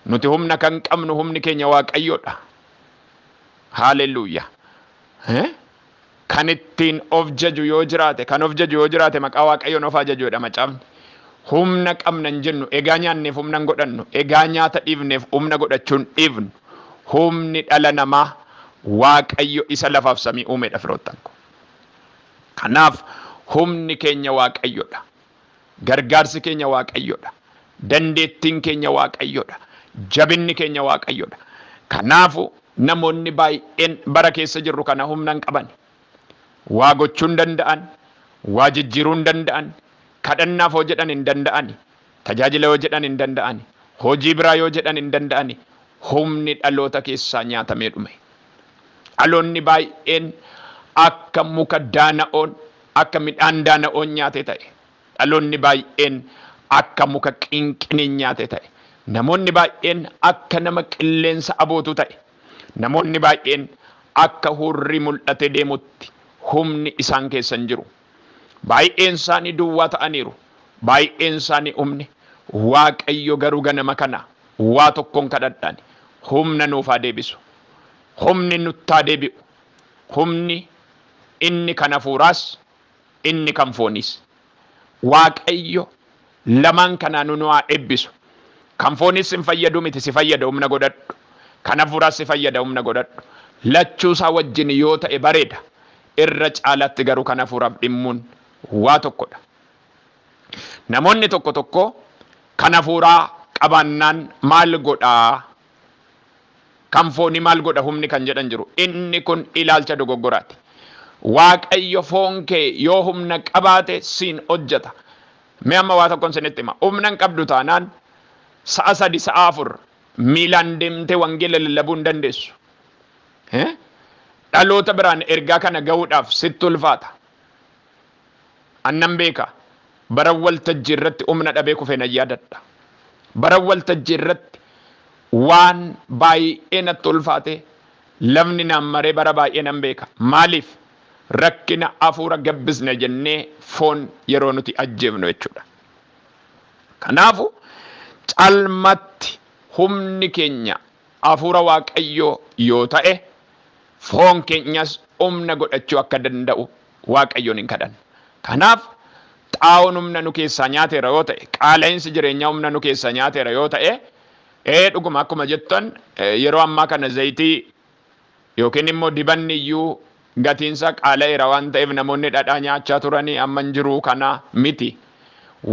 Nuti humna kan qabnu humni keenya Waaqayyoodha. Haaleluyyaa. Kan ittiin of jaju yoo jiraate, kan of jaju yoo jiraate maqaa Waaqayyoon of haa jaju jedha macaafni. Humna qabna hin jennu, egaa nyaanneef humna hin godhannu, egaa nyaata dhiifneef humna godhachuu hin dhiifnu. Humni dhala namaa Waaqayyo isa lafaaf samii uumedha firoottan koo. Kanaaf humni keenya Waaqayyodha. Gargaarsi keenya Waaqayyodha. Dandeettiin keenya Waaqayyodha. Jabinni keenya Waaqayyodha. Kanaafu namoonni baay'een bara keessa jirru kana humna hin qabani. Waa gochuu hin danda'an, waa jijjiiruu hin danda'an, kadhannaaf hoo jedhan hin danda'ani, tajaajila yoo jedhan hin danda'ani, hojii biraa yoo jedhan hin danda'ani, humni dhaloota keessaa nyaatamee dhume. Dhaloonni baay'een akka muka daana'oon, akka midhaan daana'oon nyaate ta'e. Dhaloonni baay'een akka muka qinqiniin nyaate ta'e. Namoonni baay'een akka nama qilleensa abootu ta'e. Namoonni baay'een akka hurrii mul'atee deemutti humni isaan keessa hin jiru. Baay'een isaanii duwwaa ta'aniiru, baay'een isaanii humni, Waaqayyo garuu ganama kana waa tokkon kadhadhaani, humna nuuf haa deebisu. Humni nutti haa deebi'u. Humni inni kan hafuuraas, inni kan fooniis. Waaqayyo Lamaan kanaanu nu haa eebbisu. Kan fooniis sin fayyadu miti si fayyada humna godhadhu. Kan hafuuraas si fayyada humna godhadhu. Lachuu isaa wajjin yoo ta'e bareeda. Irra caalaatti garuu kan hafuuraaf dhimmuun waa tokko dha. Namoonni tokko tokko kan hafuuraa qabaannaan maal godha? Kan foonii maal godha humni kan jedhan jiru. Inni kun ilaalcha dogoggoraati. Waaqayyo foon kee yoo humna qabaate siin hojjeta. Mee amma waa tokkon sinitti hima. Humna hin qabdu taanaan sa'a sadi, sa'a afur miilaan deemtee wangeela lallabuu hin dandeessu. Dhaloota biraan ergaa kana ga'uudhaaf sitti ulfaata. An nan beeka. Baran waltajjii irratti humna dhabee kufe nan yaadadha. Baran waltajjii irratti waan baay'ee natti ulfaatee lafni naan maree bara baay'ee nan beeka. Maaliif? Rakkina hafuura gabbisna jennee foon yeroo nuti ajjeefnu jechuudha. Kanaafu calmatti humni keenya hafuura Waaqayyoo yoo ta'e foon keenyas humna godhachuu akka danda'u Waaqayyoon hin kadhanna. Kanaaf xaa'oon humna nu keessaa nyaateera yoo ta'e, qaala'insi jireenyaa humna nu keessaa nyaateera yoo ta'e, ee dhuguma akkuma jettan yeroo ammaa kana zayitii Yookiin immoo dibanni iyyuu gatiin isaa qaala'eera waan ta'eef namoonni dhadhaa nyaachaa turanii amma hin jiru kana miti.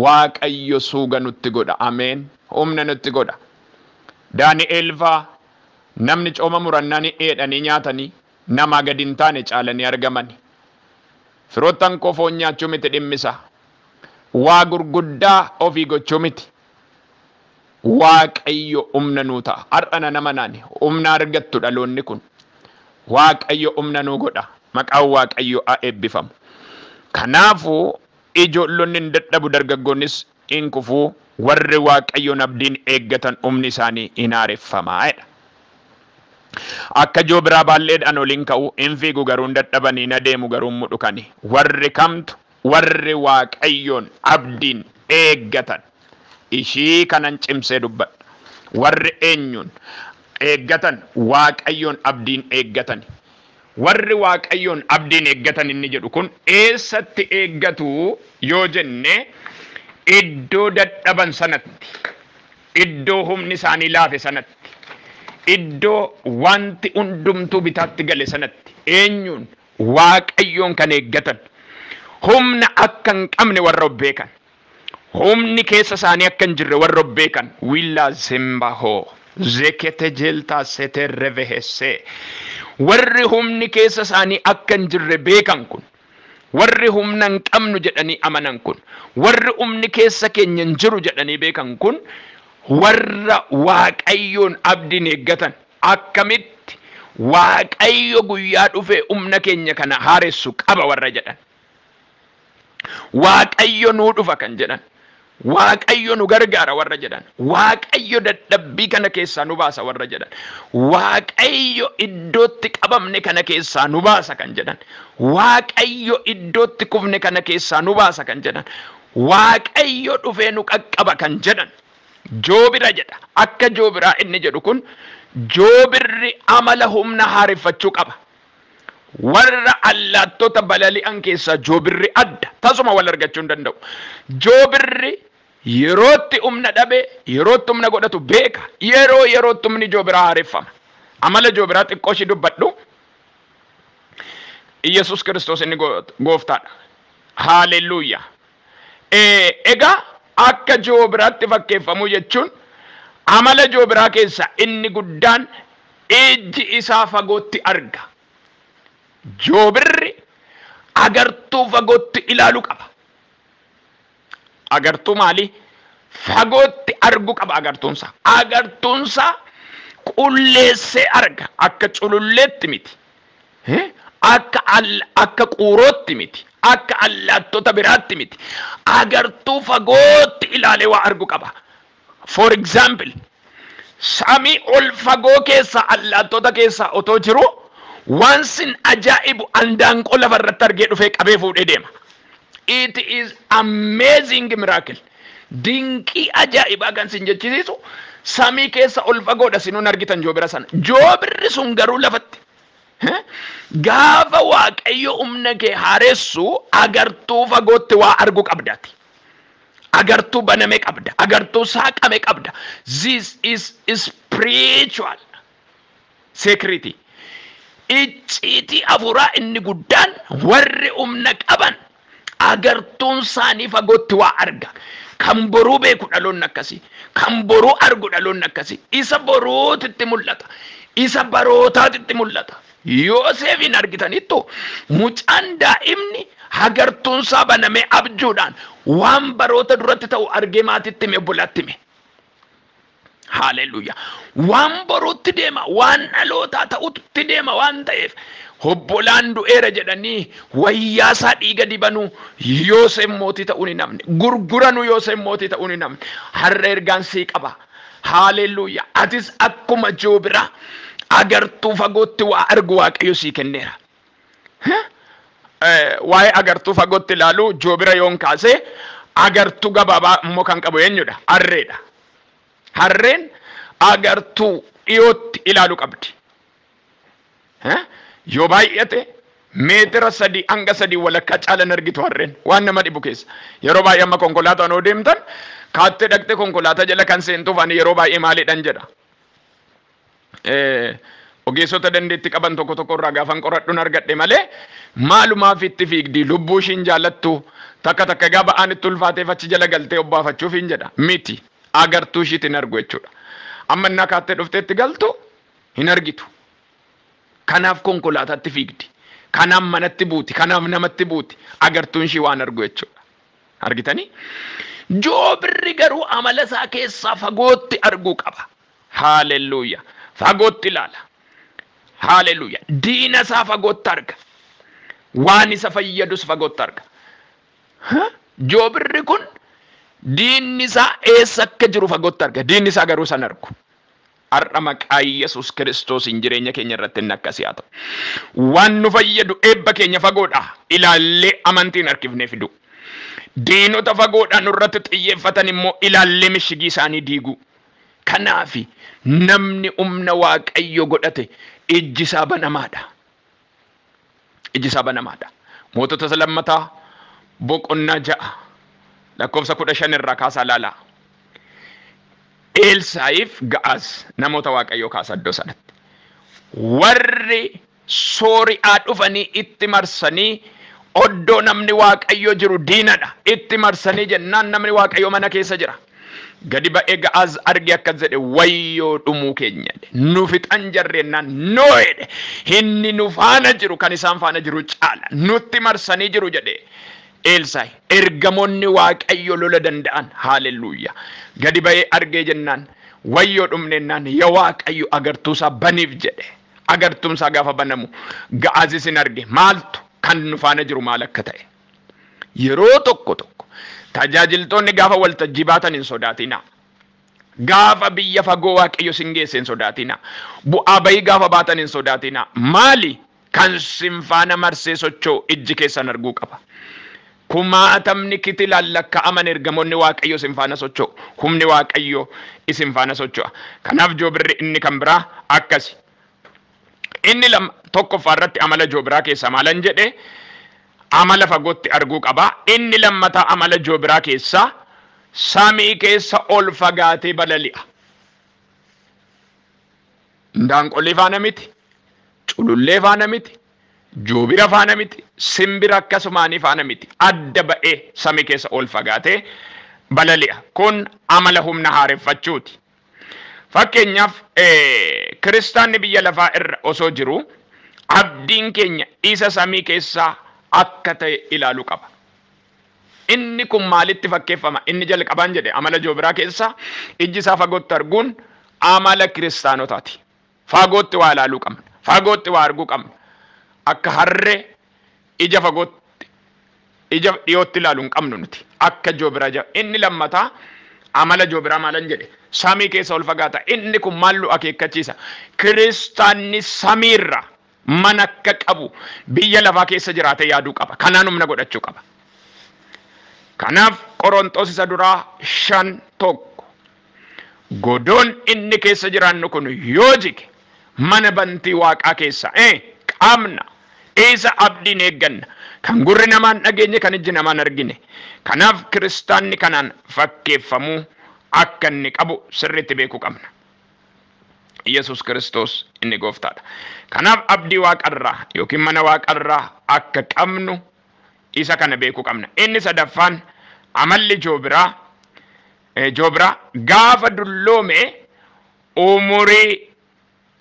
Waaqayyo suuga nutti godha. Ameen. Humna nutti godha. Daani'eel faa namni cooma murannani dheedhanii nyaatanii namaa gadi hin taane caalanii argamani. Firoottan koo foon nyaachuu miti dhimmi isaa. Waa gurguddaa ofii gochuu miti. Waaqayyo umna nuu ta'a. Har'a nan amanaani umna argattu dhaloonni kun. Waaqayyo umna nuu godha. Maqaan Waaqayyo a eebbifamu. Kanaafu ijoollonni hin dadhabu dargaggoonnis hin kufu warri Waaqayyoon abdiin eeggatan umni isaanii hin haareffama jedha. Akka joobiraa baalleedhaan ol hin ka'u, hin fiigu garuu hin dadhabani, hin adeemu garuu hin mudhukani. Warri kamtu. Warri Waaqayyoon abdiin eeggatan, ishii kanan cimsee dubbadha. Warri eenyuun eeggatan? Waaqayyoon abdiin eeggatani. Warri Waaqayyoon abdiin eeggatan inni jedhu kun eessatti eeggatu yoo jenne, iddoo dadhaban sanatti, iddoo humni isaanii laafe sanatti, iddoo wanti hundumtuu bitaatti gale sanatti. Eenyuun? Waaqayyoon kan eeggatan, humna akka hin qabne warra of beekan, humni keessa isaanii akka hin jirre warra of beekan, Willa Zembaho, Zekete Jelta Sete Revehesse, warri humni keessa isaanii akka hin jirre beekan kun, warri humna hin qabnu jedhanii amanan kun, warri humni keessa keenya hin jiru jedhanii beekan kun, warra Waaqayyoon abdiin eeggatan, Akkamitti Waaqayyo guyyaa dhufee umna keenya kana haaressu qaba warra jedhan. Waaqayyo nuu dhufa kan jedhan. Waaqayyo nu gargaara warra jedhan. Waaqayyo dadhabbii kana keessaa nu baasa warra jedhan. Waaqayyo iddootti qabamne kana keessaa nu baasa kan jedhan. Waaqayyo iddootti kufne kana keessaa nu baasa kan jedhan. Waaqayyo dhufee nu qaqqaba kan jedhan. Joobira jedha. Akka joobiraa inni jedhu kun joobirri amala humna haareffachuu qaba. Warra allaattota balali'an keessaa joobirri adda. Tasuma wal argachuu hin danda'u. Joobirri yerootti humna dhabe, yerootti humna godhatu beeka. Yeroo yerootti humni joobiraa haareffama. Amala joobiraa xiqqoo ishii dubbadhu. Iyyasuus Kiristoos inni gooftaadha. Haalelluuyyaa! Egaa akka joobiraatti fakkeeffamuu jechuun amala joobiraa keessaa inni guddaan ijji isaa fagootti arga. Joobirri agartuu fagootti ilaalu qaba. Agartuu maalii? Fagootti argu qaba agartuunsaa. Agartuunsaa qulleessee arga akka cululleetti miti. Hee? Akka all akka quurootti miti, akka allaattota biraatti miti. Agartuu fagootti ilaalee waa argu qaba. For example, samii ol fagoo keessaa allaattota keessaa otoo jiruu waan sin ajaa'ibu andaanqoo lafa irratti argee dhufee qabee fuudhee deema. It is amazing miracle. Dinqii ajaa'ibaa kan sin jechisiisu samii keessa ol fagoodha sinuu hin argitan joobira sana. Joobirri sun garuu lafatti Gaafa waaqayyo humna kee haaressu agartuu fagootti waa argu qabda ati. Agartuu baname qabda. Agartuu saaqame qabda. This is spiritual security. Icciitii afuuraa inni guddaan warri humna qaban Agartuun isaanii fagootti waa arga. Kan boruu beeku dhaloonni akkasii. Kan boruu argu dhaloonni akkasii. Isa boruutitti mul'ata. Isa barootaatitti mul'ata. Yooseefiin argitaniittu mucaan daa'imni hagartuun isaa banamee abjuudhaan waan baroota duratti ta'u argee maatitti hime obbolaatti hime. Haaleluyyaa. Waan boruutti deema, waan dhalootaa ta'utti deema waan ta'eef obbolaan du'eera jedhanii wayyaasaa dhiiga dibanuu Yooseen mootii ta'uun hin hafne. Gurguranuu Yooseen mootii ta'uun hin hafne. Har'a ergaan sii qaba. Haaleluyyaa. Atis akkuma Joobiraa agartuu fagootti waa argu Waaqayyo sii kenneera. Waa'ee agartuu fagootti ilaaluu joobira yoon kaase agartuu gabaabaa immoo kan qabu eenyudha? Harreedha. Harreen agartuu dhiyootti ilaalu qabdi. Yoo baay'ate meetira sadii hanga sadii walakkaa caalan argitu harreen waan nama dhibu keessa. Yeroo baay'ee amma konkolaataan yoo deemtan kaattee dhaqxee konkolaataa jala kan seentuuf ani yeroo baay'ee maaliidhan jedha. Ogeessota dandeetti qaban tokko tokko irraa gaafan qoradhun argadhe malee maalumaaf itti fiigdii lubbuu ishiin jaalattu takka takka egaa ba'aan itti ulfaateef achi jala galtee obbaafachuuf hin jedha miti agartuu ishiit hin argu jechuudha amma innaa kaattee dhuftee itti galtu hin argitu kanaaf konkolaataatti fiigdi kanaaf manatti buuti kanaaf namatti buuti agartuun ishii waan argu jechuudha argitanii joobirri garuu amala isaa keessaa fagootti arguu qaba Haalelluuya! Fagootti ilaala. Haalelluuya! Diina isaa fagootti arga. Waan isa fayyadus fagootti arga. Ha? Joobirri kun diinni isaa eessa akka jiru fagootti arga. Diinni isaa garuu san argu. Har'a maqaa Yesus Kiristoosiin jireenya keenya irratti inni akkasii haa ta'u. Waan nu fayyadu eebba keenya fagoodha ilaallee amantiin harkifnee fiduu. Diinota fagoodhaa nurratti xiyyeeffatan immoo ilaallee mishigii isaanii diiguu. Kanaafi, namni umna Waaqayyo godhate ijji isaa banamaa dha. Ijji isaa banamaa dha. Mootota isa lammataa boqonnaa ja'a lakkoofsa kudha shan irraa kaasaa ilaalaa. Eelsaa'iif Ga'aaz namoota Waaqayyoo kaasa iddoo sanatti. Warri Soori'aa dhufanii itti marsanii oddoo namni Waaqayyo jiru diinadha. Itti marsanii jennaan namni Waaqayyo mana keessa jira. Gadi ba'ee Ga'aaz arge akkas jedhe wayyoo dhumuu keenya jedhe. Nu fixan jarri jennaan no jedhe. Inni nu faana jiru kan isaan faana jiru caala. Nutti marsanii jiru jedhe Eelsaay. Ergamoonni Waaqayyo lola danda'an haalelluuyyaa. Gadi ba'ee argee jennaan wayyoo dhumne jennaan ya Waaqayyo agartuusaa baniif jedhe. Agartuun isaa gaafa banamu Ga'aazis in arge. Maaltu? Kan nu faana jiru maal akka ta'e. Yeroo tokko tokko tajaajiltoonni gaafa waltajjii baatan hin sodaatinaa. Gaafa biyya fagoo Waaqayyo sin geesse hin sodaatinaa. Bu'aa bayii gaafa baatan hin sodaatinaa. Maali? Kan sin faana marsee socho'u ijji keessan arguu qaba. Kumaatamni kitilaan lakka'aman ergamoonni Waaqayyoo isin faana socho'u. Humni Waaqayyoo isin faana socho'a. Kanaaf joobirri inni kan biraa akkasi. Inni lama tokkoffaa irratti amala joobiraa keessaa maalan jedhe amala fagootti arguu qaba. Inni lammataa amala joobiraa keessaa samii keessa ol fagaatee balali'a. Indaanqolee faana miti, culullee faana miti, Joobira faana miti, simbira akkasumaanii faana miti, adda ba'ee samii keessa ol fagaatee balali'a. Kun amala humna haareffachuuti. Fakkeenyaaf, kiristaanni biyya lafaa irra osoo jiruu, abdiin keenya isa samii keessaa akka ta'e ilaalu qaba. Inni kun maalitti fakkeeffama? Inni jalqabaan jedhe, amala joobiraa keessaa ijji isaa fagootti arguun amala kiristaanotaati. Faagootti waa ilaaluu qabna. Faagootti waa arguu qabna. Akka harree ija fagootti ija dhiyootti ilaalu hin qabnu nuti. Akka Joobiraa ija Inni lammataa amala Joobiraa maalan jedhe? Samii keessa ol fagaata. Inni kun maal nu akeekkachiisa? Kiristaanni samiirra man akka qabu biyya lafaa keessa jiraatee yaaduu qaba. Kanaan humna godhachuu qaba. Kanaaf Qoronxoos isa duraa shan tokko godoon inni keessa jiraannu kun yoo jige mana bantii waaqaa keessa e qabna isa abdiin eegganna kan gurri namaan dhageenye kan ijji namaan argine kanaaf kiristaanni kanaan fakkeeffamuu akka inni qabu sirriitti beekuu qabna. Yesus Kiristoos inni gooftaadha. Kanaaf abdii waaqarraa yookiin mana waaqarraa akka qabnu isa kana beekuu qabna. Inni sadaffaan amalli joobiraa eh, joobiraa gaafa dulloome umurii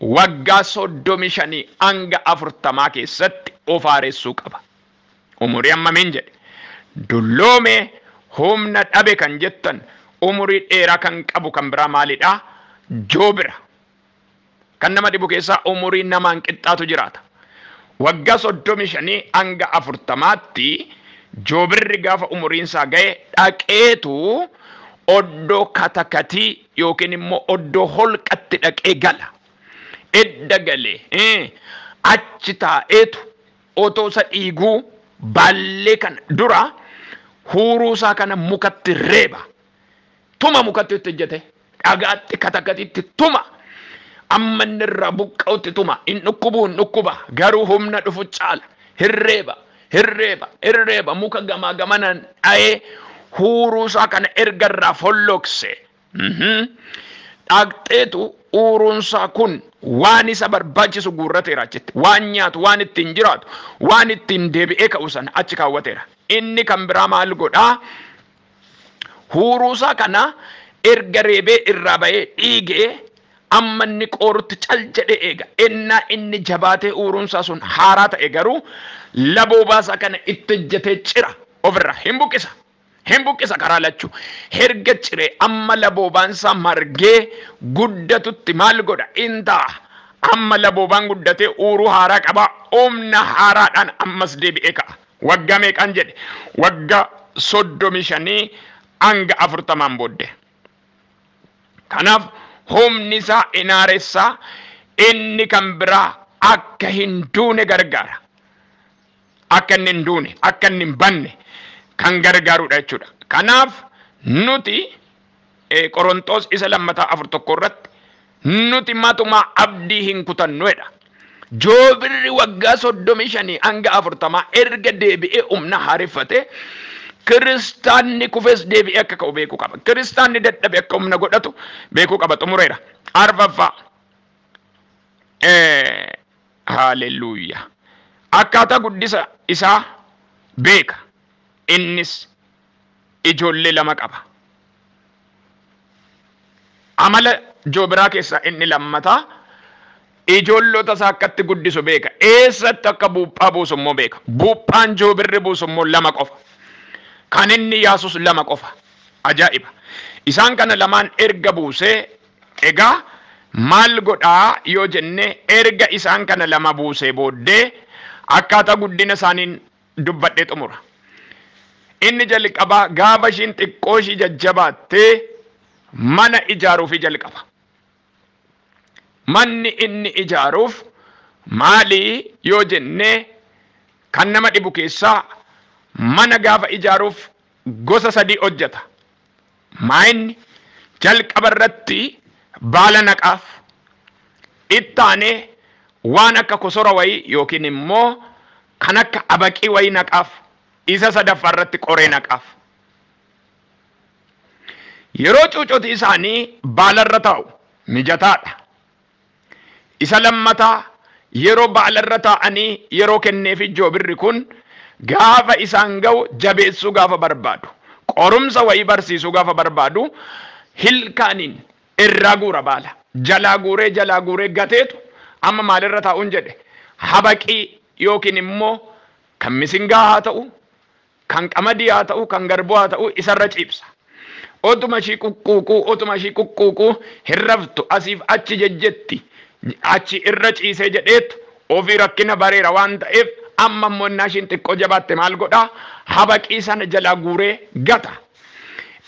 waggaa soddomii shanii hanga afurtamaa keessatti of haaressuu qaba. Umurii hammamiin jedhe? Dulloome, humna dhabe kan jettan umurii dheeraa kan qabu kan biraa maalidha? Joobira. Kan nama dhibu keessaa umurii namaan qixxaatu jiraata. Waggaa soddomii shanii hanga afurtamaatti joobirri gaafa umuriin isaa ga'e dhaqeetu oddoo katakatii yookiin immoo oddoo holqatti dhaqee gala. Edda galee achi taa'eetu Otoo isa dhiiguu baallee kana dura huuruu isaa kana mukatti reeba. Tuma mukatti itti hojjete. Dhagaatti katakatitti tuma. Amma inni irraa buqqa'utti tuma. Hin dhukkubu hin dhukkuba. Garuu humna dhufu caala. Hin reeba. Hin reeba. Hin reeba. Muka gamaa gamanaan dha'ee huuruu isaa kana erga irraa folloqse Dhaqxeetu uuruunsaa kun waan isa barbaachisu guurrateera achitti. Waan nyaatu, waan ittiin jiraatu, waan ittiin deebi'ee ka'u sana achi kaawwateera. Inni kan biraa maal godhaa? Huuruusaa kana erga reebee irraa ba'ee dhiigee amma inni qoorutti cal jedhee eega. Ennaa inni jabaatee uuruunsaa sun haaraa ta'e garuu laboobaasaa kana itti hojjetee cira ofirraa hin buqqisa. Hin buqqisa karaa lachuu. Herga ciree amma laboobaansaa margee guddatutti maal godha? In ta'a. Amma laboobaan guddatee uuruu haaraa qaba, humna haaraadhaan ammas deebi'ee ka'a. Waggaa meeqaan jedhe? Wagga 35 hanga 40n booddee. Kanaaf humnisaa in haaressaa, inni kan biraa akka hin duune gargaara. akka inni hin duune, akka inni hin banne kan gargaarudha jechuudha. Kanaaf nuti eh, Qorontoos isa lammataa afur tokko irratti nuti matumaa abdii hin kutannuedha. Joobirri waggaa soddomii shanii hanga afurtamaa erga deebi'ee humna haareffate kiristaanni kufes deebi'ee akka ka'u beekuu qaba. Kiristaanni dadhabe akka humna godhatu beekuu qaba. Xumureera. Arfaffaa. Eh, Haalelluuyyaa! Akkaataa guddisa isaa beeka, innis ijoollee lama qaba. Amala Joobiraa keessaa inni lammataa ijoollota isaa akkatti guddisu beeka, eessatti akka buuphaa buusu immoo beeka. Buuphaan Joobirri buusu immoo lama qofa. Kan inni yaasus lama qofa. Ajaa'iba! Isaan kana lamaan erga buusee Egaa maal godha yoo jenne erga isaan kana lama buusee booddee akkaataa guddina isaaniin dubbadhee xumura. Inni jalqabaa gaafa ishiin xiqqoo ishii jajjabaatte mana ijaaruufii jalqaba. Manni inni ijaaruuf maali yoo jenne kan nama dhibu keessaa mana gaafa ijaaruuf gosa sadii hojjeta. Maayinni jalqaba irratti baala naqaaf. Itti aanee waan akka kosora wayii yookiin immoo kan akka abaqii wayii naqaaf. Isa sadaffaa irratti qoree naqaaf. Yeroo cuucoti isaanii baala irra taa'u mijataadha. Isa lammataa yeroo ba'alarra taa'anii yeroo kenneefi Joobirri kun gaafa isaan ga'u jabeessuu gaafa barbaadu, qorumsa wayii barsiisuu gaafa barbaadu hilkaaniin irraa guura baala. Jalaa guuree jalaa guuree gateetu amma maalirra taa'uun jedhe habaqii yookiin immoo kan misingaa haa ta'u, Kan qamadii haa ta'uu, kan garbuu haa ta'uu isarra ciibsa. Otuma ishii quqquuquu, otuma ishii quqquuquu hin raftu, asiif achi jejjetti. Achi irra ciisee jedheet ofii rakkina bareera waan ta'eef amma immoo innaa ishiin xiqqoo jabaatte maal godha? Habaqii sana jalaa guuree gata.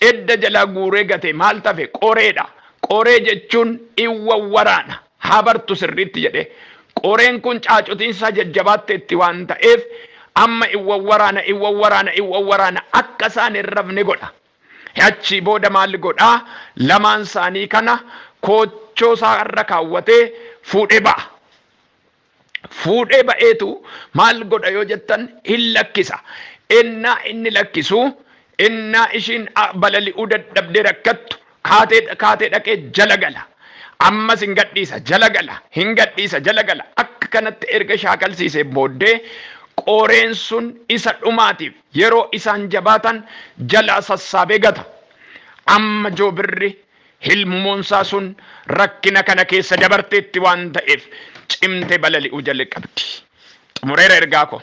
Edda jalaa guuree gatee maaltu hafe? Qoreedha. Qoree jechuun in wawwaraana. haa bartu sirriitti jedhe. Qoreen kun caacutiin isaa jajjabaatteetti waan ta'eef amma in wawwaraana, in wawwaraana, in wawwaraana akka isaan hin rafne godha. Achii booda maal godha? Lamaan isaanii kana koochoo isaa irra kaawwatee fuudhee ba'a. fuudhee ba'eetu maal godha yoo jettan hin lakkisa. Ennaa inni lakkisu ennaa ishiin balali'uu dadhabdee rakkattu kaatee kaatee dhaqee jala gala. Ammas hin gadhiisa jala gala hin gadhiisa jala gala akka kanatti erga shaakalsiisee booddee qoreen sun isa dhumaatiif yeroo isaan jabaatan jalaa sassaabee gata. Amma joobirri Hilmmoonsaa sun rakkina kana keessa dabarteetti waan ta'eef cimte balali'uu jalqabdi. Xumureera ergaa koo.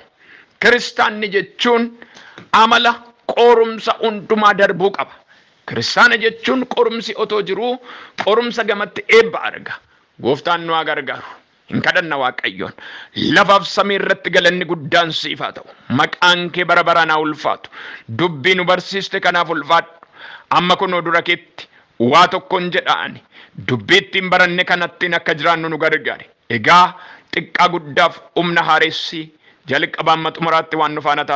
Kiristaanni jechuun amala qoorumsa hundumaa darbuu qaba. Kiristaana jechuun qorumsi otoo jiruu qorumsa gamatti eebba arga. Gooftaan nu haa gargaaru. hin kadhanna Waaqayyoon. Lafaaf samii irratti galanni guddaan siif haa ta'u. Maqaan kee bara baraan haa ulfaatu. Dubbii nu barsiiste kanaaf ulfaadhu. Amma kunoo dura keetti waa tokkon jedha ani. Dubbii ittiin baranne kanattiin akka jiraannu nu gargaari. Egaa xiqqaa guddaaf humna haaressii, jalqabaa amma xumuraatti waan nu faana taataniif.